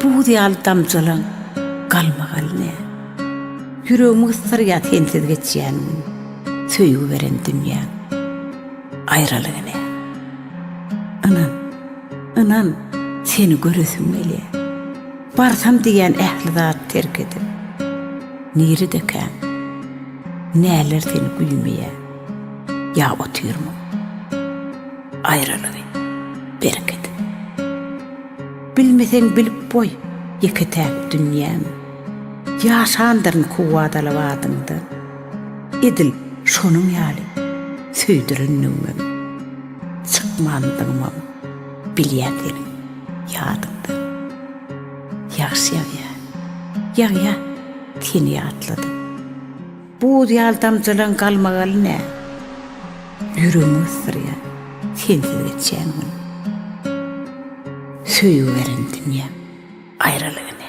Buz ýaly damjalaň galmagaly ne? Ýüregimi gysdyrýar sensiz geçýän gün, Söýgi beren dünýäň aýralygy ne? Ynan, ynan, seni göresim gelýär. Barsam diýýän ähli zady terk edip, Niredekäň, näler seni güýmeýär, Ýa otyrmyň aýralygy berk edip? Bilmeseň bilip goý, ýeke-täk dünýäm. Ýaşandyryn kuwwat alyp adyňdan. Edil şonuň ýaly söýdürendigimem. Çykmandygymam bilýän seniň ýadyňdan. Ýagşy ýagýar, ýagýar, seni ýatladym. Buz ýaly damjalaň galmagaly nä? Ýüregimi gysdyrýar sensiz geçýän gün. Söýgi beren dünýäm aýralygy nä?